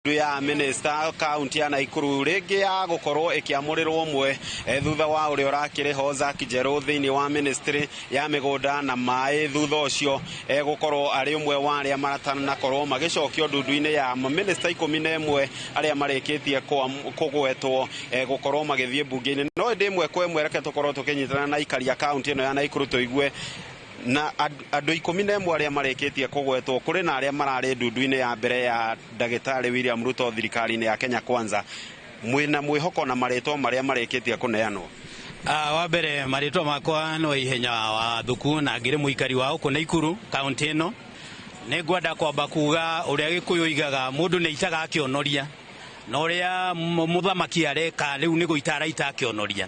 ndu ya minista kaunti ya Naikuru ringi ya gukorwo ikiamurirwo mwe thutha wa uria urakiri ho Zack Njeru thiini wa ministry ya migunda na mai thutha ucio gukorwo ari umwe wa aria maratana korwo magicokio ndundu-ini ya minista ikumi na imwe aria marikitie kugwetwo gukorwo magithie mbunge-ini no ndi imwe kwa imwe reke tukorwo tukinyitana na ikari a kaunti ino ya Naikuru tuigue na andå ikå mi na ĩmwe arä a marĩkä tie kå gwetwo kå rä na arä a mararä ndundu-inä ya mbere ya ndagätarä William Ruto thirikari-inä ya Kenya Kwanza mwä na mwä hoko na marä two marä a marä kä tie kå neanwo Uh, wa mbere marĩtwa makwa nĩ wa ihenya wa thuku na ngĩrĩ mũikari wa ũkũ na ikuru kaunti ĩno nĩ ngwenda kwamba kuga ũrĩa gĩkũyũ igaga mũndũ nĩ aitaga akĩonoria na ũrĩa mũthamaki areka rĩu nĩ gũita araita akĩonoria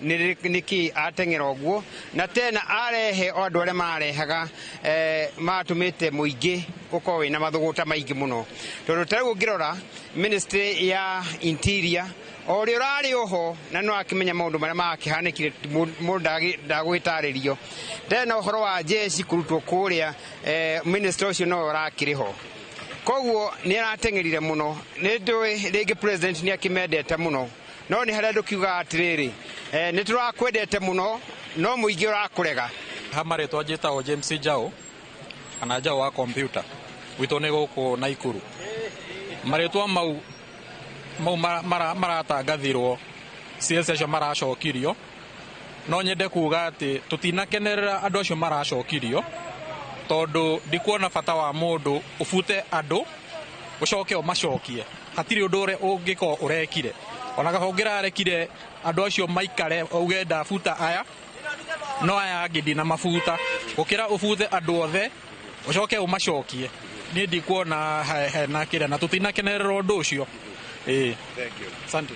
niki ateng'era ũguo na tena arehe o andũ arĩa mararehaga eh, matũmĩte mũingĩ ũkorwo wĩna mathũgũta maingĩ mũno tondũ ta rĩu ũngĩrora ministry ya interior o ũrĩa ũrarĩ oho na no akĩmenya maũndũ marĩa makĩhanĩkire mũndũ ndagĩ- ndagũgĩtarĩrio tena ũhoro wa jeshi kũrutwo kũrĩa eh, ministry ũcio no ũrakĩrĩ ho koguo nä arateng'erire må no nä ndå rä ngä nä akĩmendete må no no nĩ harĩa ndũkiugaga atĩrĩrĩ eh, nĩ tũrakwendete mũno no mũingĩ ũrakũrega ha marĩtwa njĩtagwo james njao kana njao wa kompyuta gwitũ nĩ gũkũ naikuru marĩtwa mau mau mara- mara- maratangathirwo ciĩca acio maracokirio no nyende kuga atĩ tũtinakenerera andũ acio maracokirio tondũ ndikuona bata wa mũndũ ũbute andũ ũcoke ũmacokie Hatirĩ ũndũ ũrĩa ũngĩkorwo ũrekire, ona gahonge rarekire andũ acio maikare uge ndabuta aya, no aya angĩ ndinamabuta. Gũkĩra ũbute andũ othe ũcoke ũmacokie, niĩ ndikuona hena kĩrĩa na tũtinakenerera ũndũ ũcio. Ĩĩ. Asante.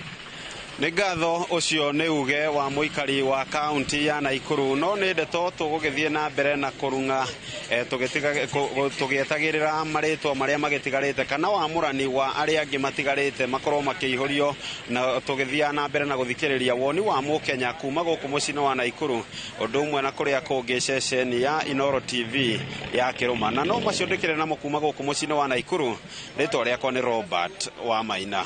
Nĩ ngatho ũcio nĩ uge wa mũikari wa kaunti ya Naikuru no nĩ ndeto tũgũgĩthiĩ na mbere na kũrung'a eh, tũgĩtiga- kũ- kũ- tũgĩetagĩrĩra marĩtwa marĩa magĩtigarĩte kana wamũrani wa arĩa angĩ matigarĩte makorwo makĩihũrio na tũgĩthiaga na mbere na gũthikĩrĩria woni wa mũkenya kuma gũkũ mũciĩ-inĩ wa Naikuru ũndũ ũmwe na kũrĩa kũngĩ ceceni ya Inoro TV ya Kĩrũma na no macio ndĩkĩrĩ namo kuma gũkũ mũciĩ-inĩ wa Naikuru rĩtwa rĩakwa nĩ Robert wa Maina